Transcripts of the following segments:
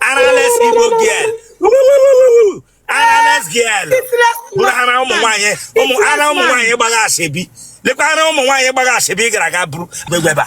arales igbo girl arales girl bụrụ ha na ụmụ nwaanyị ụmụ ara ụmụ nwaanyị gbagha asịbi lekwa ara ụmụ nwaanyị gbagha asịbi gara aga bụrụ gbegbeba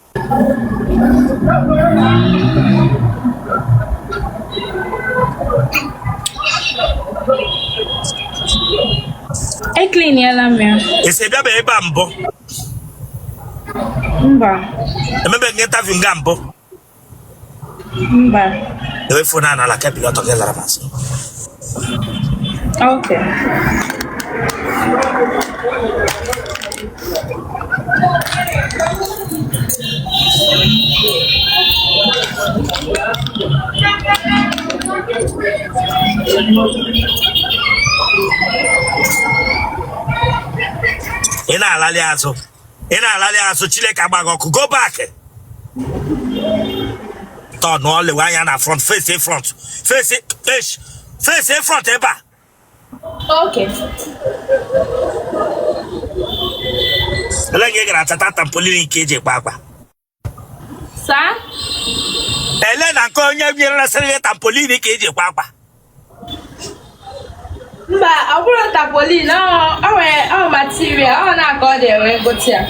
ekliniela m ya esi bịaba ebe a mbụ mba emebeghị interview nga mbụ Mba. Dewe fon a n'ala ka i bili ọtọ gị lara m azụ. Okay. Ị na-alalị azụ. ị na-alalị azụ chineke agba gị ọkụ go back turn lewe anya na front face in front face esh face in front ebe a Okay. ele nga ị gara chọta tampolin nke eji akwa akwa saa ele na nke onye nyere na sịrị gị tampolin ka eji akwa akwa mba ọ bụrọ tapolin ọ ọ nwere ọ material ọ na-aga ọ na-enwe m gote ya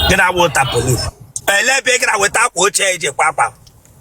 gị na-awụ tampolin ele ebe ị gara weta akwa ochie eji akwa akwa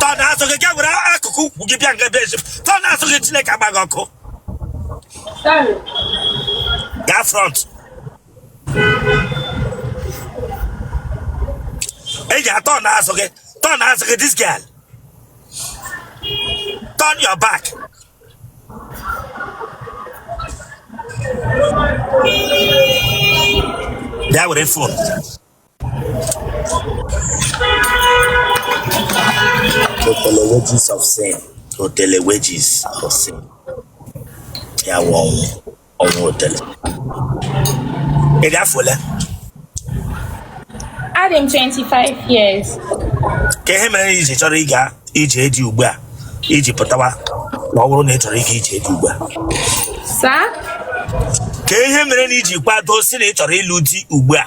turn azụ gị ga were akụkụ ukwu gị bịa nga be eze m turn azụ gị chineke agba gị ọkụ gaa front ị ga turn azụ gị turn azụ gị this girl turn your back bịa were fon Otele wages of sin. Otele wages of sin. Ya wụ ọnwụ. Ọnwụ otele. Ị dị afọ ole? Adị m 25 years. Kaa ihe mere i ji chọrọ ịga ije di ugbu a i ji pụtawa ma ọ bụrụ na ị chọrọ ịga ije di ugbu a. Saa? Kaa ihe mere na i ji kwado sị na ị chọrọ ịlụ di ugbu a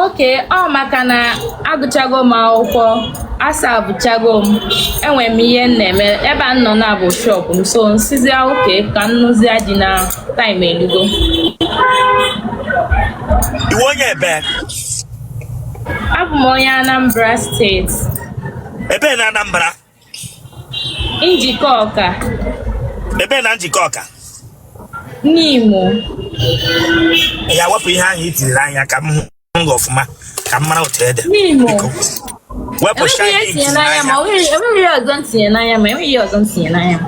okay ọ maka na agụchago m akwụkwọ asavuchago m enwere m ihe m na-eme ebe m nọ now bụ shop m so m sịzia okay ka m nụzia di na taim elugo Ị wụ onye ebee abụ m onye anambra steeti ebee na Anambra Njikọka. Ebee na Njikọka. Nimo. Ya wepụ ihe ahụ i tinyere n'anya ka m hụ ọfụma ka m mara otu ị dị. Nimo. Wepụ shine i tinyere n'anya. Enweghị ọzọ m tinye n'anya ma enweghị ọzọ m tinye n'anya.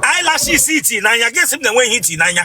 Eyelashes i ti n'anya, gị sị m na enweghị ihe i ti n'anya.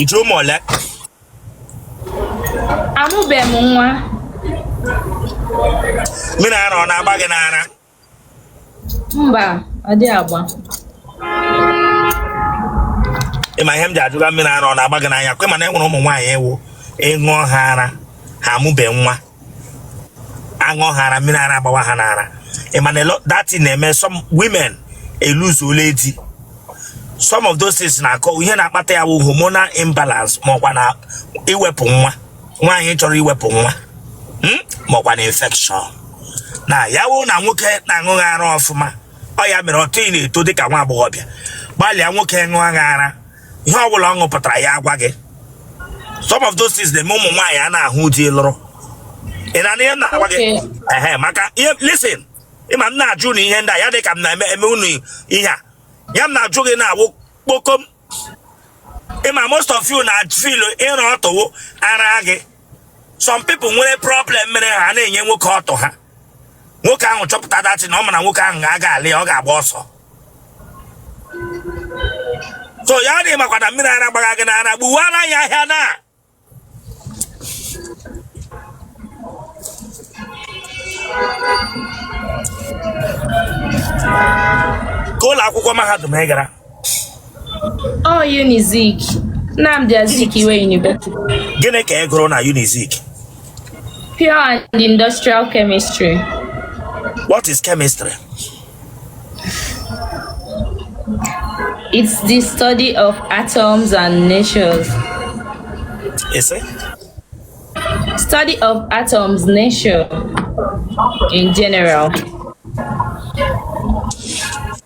I ji ụmụ ole? Amụbeghị m nwa. Mmiri ara ọ na-agba gị n'ara? Mba, ọ dịghị agba. Ị ma ihe m ji ajụ gị mmiri ara ọ na-agba gị n'ara? Kwa ị ma na e nwere ụmụ nwaanyị ọ wụ ị ṅụọ ha ara ha amụbeghị nwa. a ṅụọ ha ara mmiri ara agbawa ha n'ara ị ma na that na-eme some women eluzuola di some of those things na-akọ ihe na-akpata ya wụ hormonal imbalance ma ọ kwanụ iwepụ nwa nwaanyị chọrọ iwepụ nwa hmm? ma ọ kwanụ infection na ya wụ na nwoke na-aṅụ gị ara ọfụma ọ ya mere otu ị na-eto dịka nwa agbọghọbịa gbalịa nwoke ṅụọ gị ara ihe ọ bụla ọ ṅụpụtara ya agwa gị some of those things na-eme ụmụ nwaanyị anaghị ahụ di lụrụ ị na-anụ ihe m na-agwa gị ehe maka ihe listen ị ma m na-ajụ unu ihe ndị a ya dị ka m na-eme unu ihe a ya m na-ajụ gị na-awụ kpokom ị ma most of you na feel ịrụ otu wụ ara gị some people nwere problem mere ha na-enye nwoke ọtụ ha nwoke ahụ chọpụta that thing ọ ma na nwoke ahụ agaghị alụ ya ọ ga-agba ọsọ so ya ọ dị makwa na mmiri ara gbagha gị n'ara gbuwara ya ahịa na ka ụlọ akwụkwọ mahadum ị gara Ọ Unizik, Nnamdi Azikiwe University. Gịnị ka ị gụrụ na Unizik? Pure and Industrial Chemistry. What is chemistry? It's the study of atoms and natures. Is it? Study of atoms, nature in general.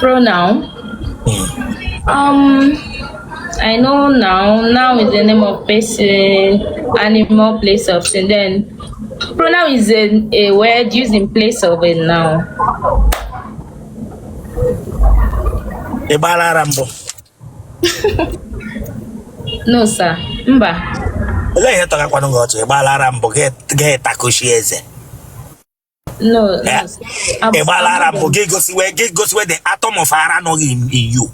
Pronoun. Hmm. Um, I know noun. Noun is the name of person, animal, place or thing. Then pronoun is a, a word used in place of a noun. Ị gbaala ara mbụ? No sir, mba. Olee ihe tọgakwanụ gị ọchị? Ị gbaala ara mbụ gị takoshi eze. ị gbara ara mbụ gị gosiwe gị gosiwe the atom of ara nọ in you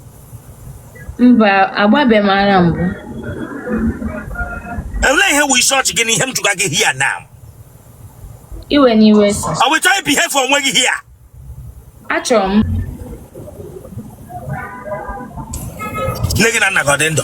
mba agbabe m ara mbụ Elee ihe wụ ịchị ọchị gị n'ihe m jụga gị here now ewena iwe sir ọ bụ ị chọọ ibehave onwe gị here achọrọ m nne gị na nna gị ọ dị ndụ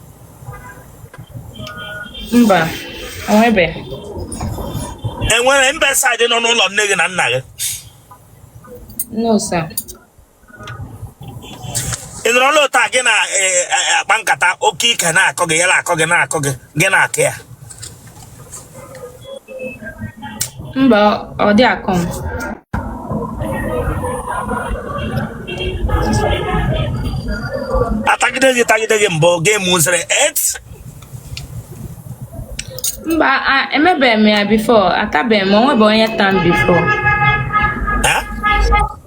mba onwebe enwere mbe saịdị nọ n'ụlọ nne gị na nna gị no sir ị nọrọ n'ụlọ taa gị na-akpa nkata okay ike na-akọ gị ya na-akọ gị na-akọ gị gị na-akọ ya Mba, ọ dị akọ m. atagide gị tagide gị mbụ gị mụziri it Mba, a- emebe m ya before, atabe m, onwebe onye ta m before.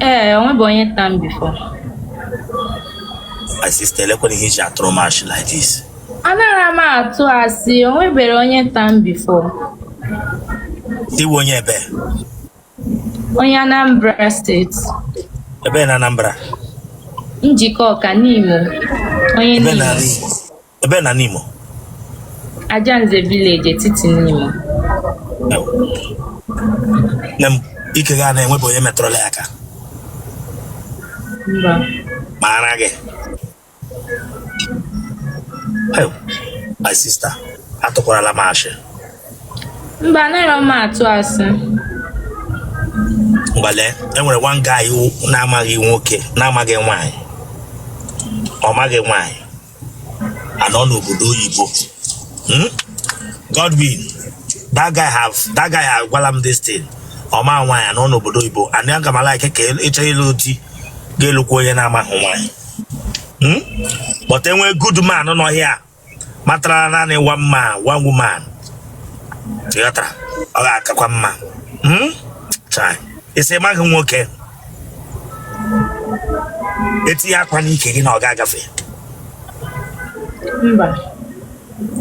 Ee, onwebe onye ta m before. My sister, elekwanụ ihe i ji atụrụ m ashị like this. Anarọ m atụ asị, onweberọ onye ta m before. Ị wụ onye ebe? Onye Anambra State. Ebe na Anambra? Njikọka, Nimo. Onye Nimo. Ebe na Nimo? Ajanze village Etiti Nimo. Nne m ike gị a enwebu onye metụrụla ya aka. Mba. Ma ara gị. Hey, my sister, atụkwarala m asị. Mba, anarọ m atụ asị. Mgbale, enwere one guy na-amaghị nwoke, na-amaghị nwaanyị. Ọ maghị nwaanyị. anọ n'obodo oyibo Hmm? Godwin that guy ahụ that guy ahụ agwala m this thing ọ ma nwaanyị anọ n'obodo oyibo and ị ga-ama like ka ị chọ ịlụ di ga-alụkwa onye na-amaghị nwaanyị Hmm? but enwe good man nọ here matara naanị one man one woman ị ghọtara ọ ga-akakwa mma Hmm? Chai. ị sị ị maghị nwoke etinye akwa n'ike gị na ọ ga-agafe mba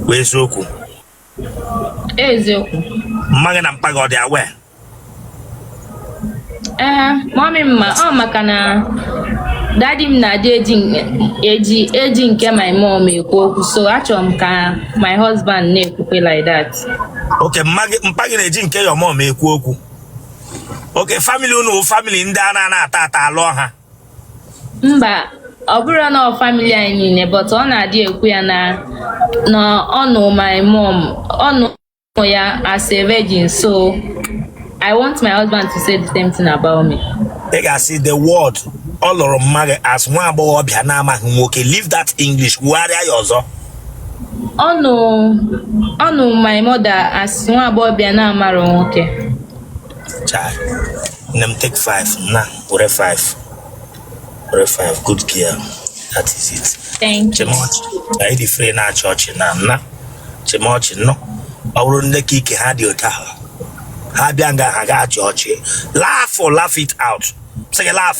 wụ eziokwu eziokwu mma gị na mpa gị ọ dị aware ee mummy m ma ọ maka na daddy m na-adị eji eji eji nke my mom ekwu okwu so achọrọ m ka my husband na-ekwukwe like that okay mpa gị na-eji nke your mom ekwu okwu okay family unu family ndị a na-ana ata ata alụọ ha mba ọ bụrọ na ọ family anyị niile but ọ na-adị ekwu ya na na ọ nụ my mom ọ nụ ya as a virgin so I want my husband to say the same thing about me. Ị ga-asị the word ọ lụrụ mma gị as nwa agbọghọbịa na-amaghị nwoke leave that English kwugharịa ya ọzọ. ọ nụ ọ nụ my mother as nwa agbọghọbịa na-amarọ nwoke Chai. Nne m take five na were five. Were five good girl. That is it. thank you chịma ọchị. Anyị dị free na-achị ọchị na nna. Chịma ọchị nụ. Ọ bụrụ ndị ka ike ha dị otu ahụ. Ha bịa nga ha ga-achị ọchị. Laugh o laugh it out. Sị gị laugh.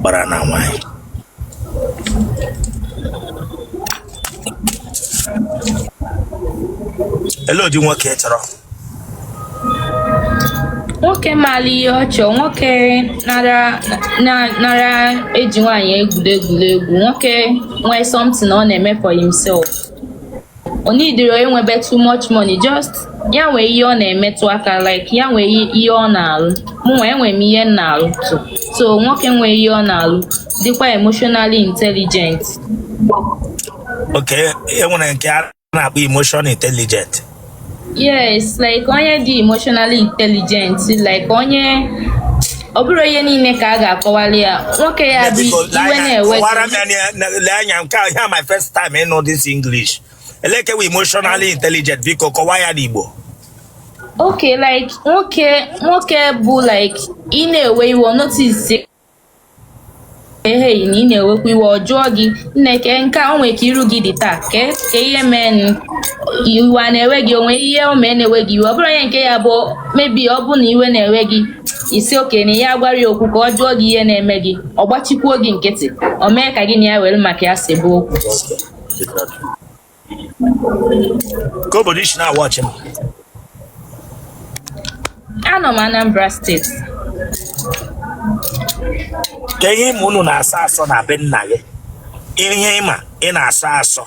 gbara na nwanyị elee ụdị nwoke ị chọrọ nwoke maara ihe ọ chọ nwoke nara na- nara eji nwaanyị egwuri egwu nwoke nwee something ọ na-eme for himself o needirọ inwebe too much money just ya nwee ihe ọ na-emetụ aka like ya nwee ihe ọ na-alụ mụnwa enwere m ihe m na-alụ too so nwoke nwee ihe ọ na-alụ dịkwa emotionally intelligent ok e nwere nke a na-akpọ emotional intelligent yes like onye dị emotionally intelligent like onye ọ bụrọ ihe niile ka a ga-akọwali ya nwoke ya dị iwe na-ewe lee anya nke a wụ my first time ịnụ this English elee nke wụ emotionally intelligent biko kọwaa ya n'Igbo okay like nwoke nwoke bụ like ị na-ewe iwe notice ehee na ị na-ewekwa iwe ọ jụọ gị nne kee nke a o nwere ka iru gị dị taa kee kee ihe meenụ iwe a na-ewe gị o nwe ihe o mee na-ewe gị iwe ọ bụrụ onye nke ya bụ maybe ọ bụ na iwe na-ewe gị ị sị okay na ya gwara ya okwu ka ọ jụọ gị ihe na-eme gị ọ gbachikwuo gị nkịtị o mee ka gị na ya were maka ya sebe okwu kee obodo i si nwa ọchị m anọ m Anambra State kee ihe ị ma unu na-asọ asọ na be nna gị ihe ị ma ị na-asọ asọ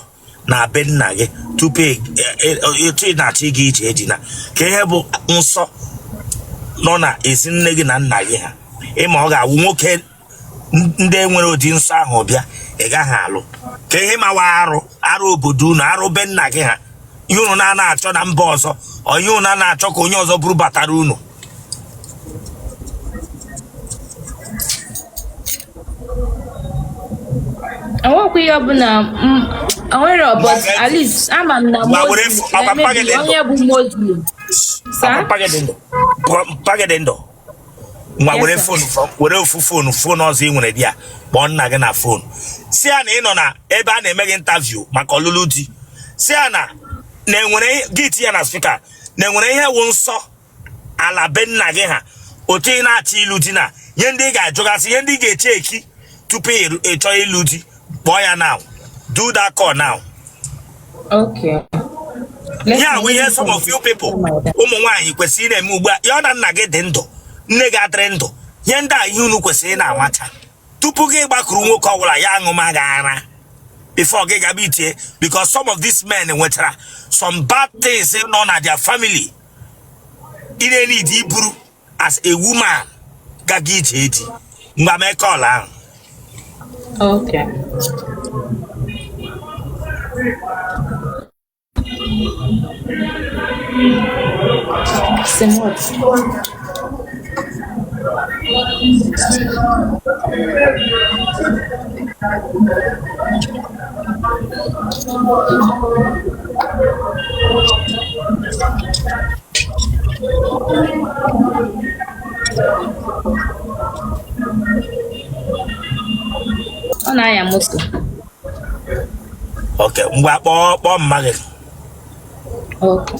na be nna gị tupu e, e, e, etu ị na-achọ ịga ije di na kee ihe bụ nsọ nọ na ezi nne gị na nna gị ha ị ma ọ ga-awụ nwoke ndị nwere ụdị nsọ ahụ bịa ị gaghị alụ ka ihe mawa arụ arụ obodo unu arụ be nna gị ha ihe unu na-ana achọ na mba ọzọ ọ ihe unu na-ana achọ ka onye ọzọ buru batara unu enwekwa ihe ọbụla m- enwere but at least ama m na ngwa were Muslim, fo- ọkwa na-emebi mpaghara onye bụ muslim Sa? Pagade ndụ. Pagade ndụ. ngwa were fon were ofu fonu fonu ọzọ ị nwere bịa kpọọ nna gị na fonu sị ya na ị nọ na ebe a na-eme gị interview maka ọlụlụ di sị ya na enwere gị tinye na spika na enwere ihe wụ nsọ ala be nna gị ha otu ị na-achọ ịlụ di na ihe ndị ị ga-ajụgasị ihe ndị ị ga-echeeki tupu ị chọọ ịlụ di kpọọ ya now do that call now okay ya wụ ihe some of you people ụmụ nwaanyị kwesịrị na-eme ugbu a ya na nna gị dị ndụ nne gị adịrị ndụ ihe ndị a ihe unu kwesịrị na-amacha tupu gị gbakwuru nwoke ọbụla ya aṅụma gị ara before gị gaba itie because some of these men nwetara some bad things nọ na their family ị na-enidi iburu as a woman gaga ije di ngwa mee call ahụ Okay. Sim, what? ọ na-anya moto ok ngwa kpọọ kpọọ mma gị Okay.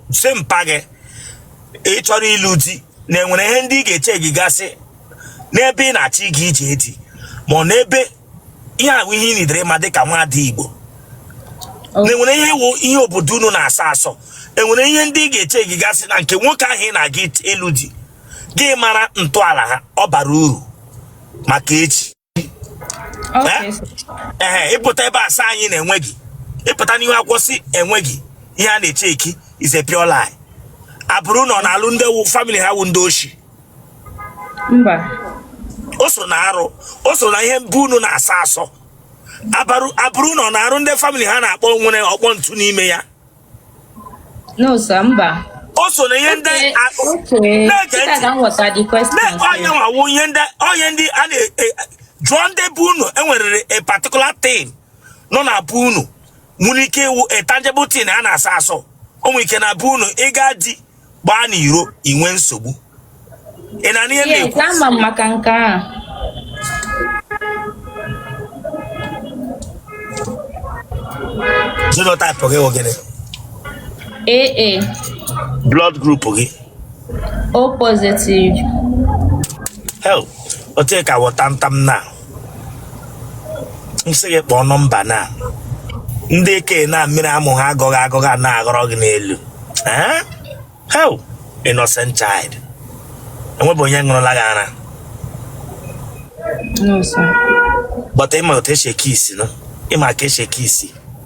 sị mpa gị ị chọrọ ịlụ di na enwere ihe ndị ị ga-echeekigasị n'ebe ị na-achọ ịga ije di ma ọ n'ebe ihe a wụ ihe ị nidiri ịma dịka nwaada Igbo oh. na enwere ihe wụ ihe obodo unu na-asọ asọ enwere ihe ndị ị ga-echeekigasị na nke nwoke ahụ ị na-aga ịlụ di gị ịmara ntọala ha ọ bara uru maka echi ee ị pụta ebe a sị anyị na enweghị ị pụta n'ihu a kwuo sị enweghị ihe a na-echeeki is a pure lie agbụrụ unu ọ na-alụ ndị famili ha wụ ndị oshi mba o so na arụ o so na ihe ndị be unu na-asọ asọ agbụrụ unu ọ na-alụ ndị famili ha na-akpọ nwere ọkpọ ntu n'ime ya No, sir, mba. o so na ihe ndị Okay, a- okay. na-ege Sita ntị. ka m ghọta the question. na sir. onye nwawo ihe ndị onye ndị a na-ajụ ndị be unu enwerere a particular thing nọ na be unu nwere ike ịwụ a tangible thing a na-asọ asọ o nwere ike na be unu ịga di gbaa n'iro inwe nsogbu ị na ihe na-ekwu ama m maka nke a genotype gị wụ gịnị AA blood group gị o positive hel otu ka wọta ntam na m sị gị kpọọ nọmba na ndị eke na mmiri amụ ha agọghị agọghị a na-aghọrọ gị n'elu Eh? How? innocent child enwebe onye ṅụrụla gị ara No, sir. but ị ma otu esi ekiss nụ ị ma ka esi ekiss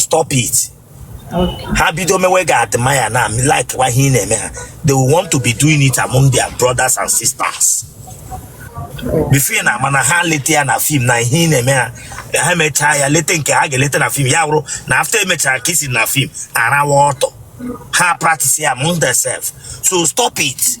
stop it Okay. ha bido mewe gị admire na like kwa ihe ị na-eme ha they will want to be doing it among their brothers and sisters before ị na-ama na ha leta ya na fim na ihe ị na-eme ha ha emechaa ya leta nke ha ga-eleta na fim ya wụrụ na after emechaa kissing na fim arawa ọtụ ha practice ya among themselves so stop it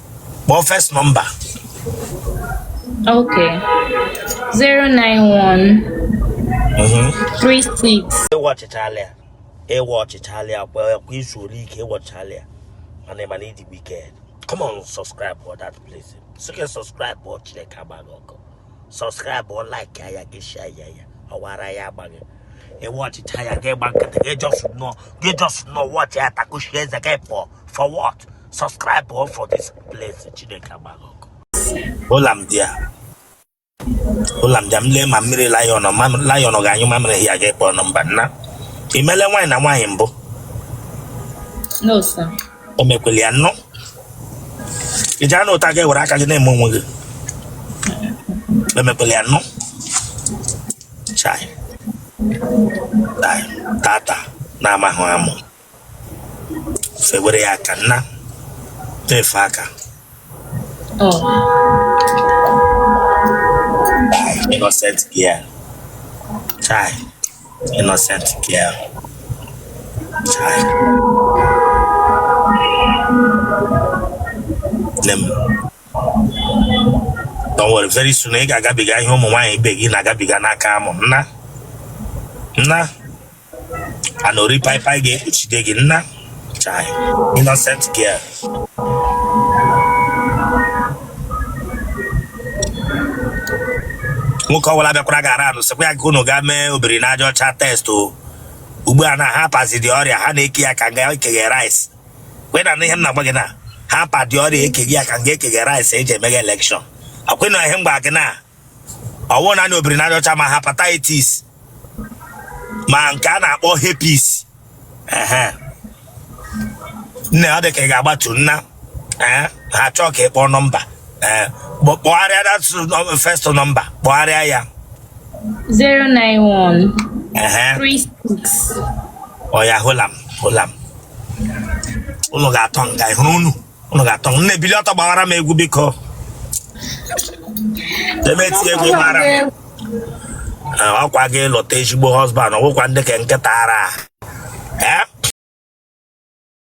kpọọ first nọmba ok 091 36 ị wọchịchala ya ị wọchịchala ya kwa kwa izu ole ike ị wọchịchala ya mana ị ma na ị dị wicked come on subscribe for that place sike subscribe for chineke agbaa gị ọkụ subscribe for like ya ya gị share ya ya ọwara ya agbaghị ị wọchịcha ya gị agba nkịtị gị just nọ gị just nọ wọchị ya takushi eze gị apụ for what subscribe o for this place chineke agbaa gị ọkụ ụla m dị ya ụla m dị ya m lee ma mmiri lion lion ga-anyụ mamịrị ya ga-akpọ nọmba nna imele nwaanyị na nwaanyị mbụ no sir o mekwele ya nnọọ ị jee na ụta gị were aka gị na-eme onwe gị emekwele ya nnọọ chai tata na-amahụ amụ fewere ya aka nna tefe aka innocent girl chai innocent girl chai nne m don't worry very soon ị ga-agabiga ihe ụmụ nwaanyị ibe gị na-agabiga n'aka amụ nna nna anori pai pai ge uchide gi nna chai innocent girl nwoke ọbụla bịakwara gara anụ sịkwa ya ka unu gaa mee obiri n'aja ọcha test o ugbu a na ha pazi the ọrịa ha na-eke ya ka nga ekeghe rice wee na ihe m na-agba gị na ha pa the ọrịa ekeghe ya ka nga ekeghe rice eji emeghe elekshọn akwena ihe m gba gị na ọ wụ na obiri n'aja ọcha ma hepatitis ma nke a na-akpọ herpes nne ọ dị ka ị ga-agbatu nna eh, ha chọọ ka ị kpọọ nọmba eh, kpọgharịa that first nọmba kpọgharịa ya 091 36 ọya hold on hold on unu ga-atọ nga ịhụrụ unu unu ga-atọ m nne bili ọtọ gbawara m egwu biko emetie egwu mara m Eh, ọkwa ị ga-alụta ezigbo husband ọ wụkwa ndị ka nkịta ara Eh?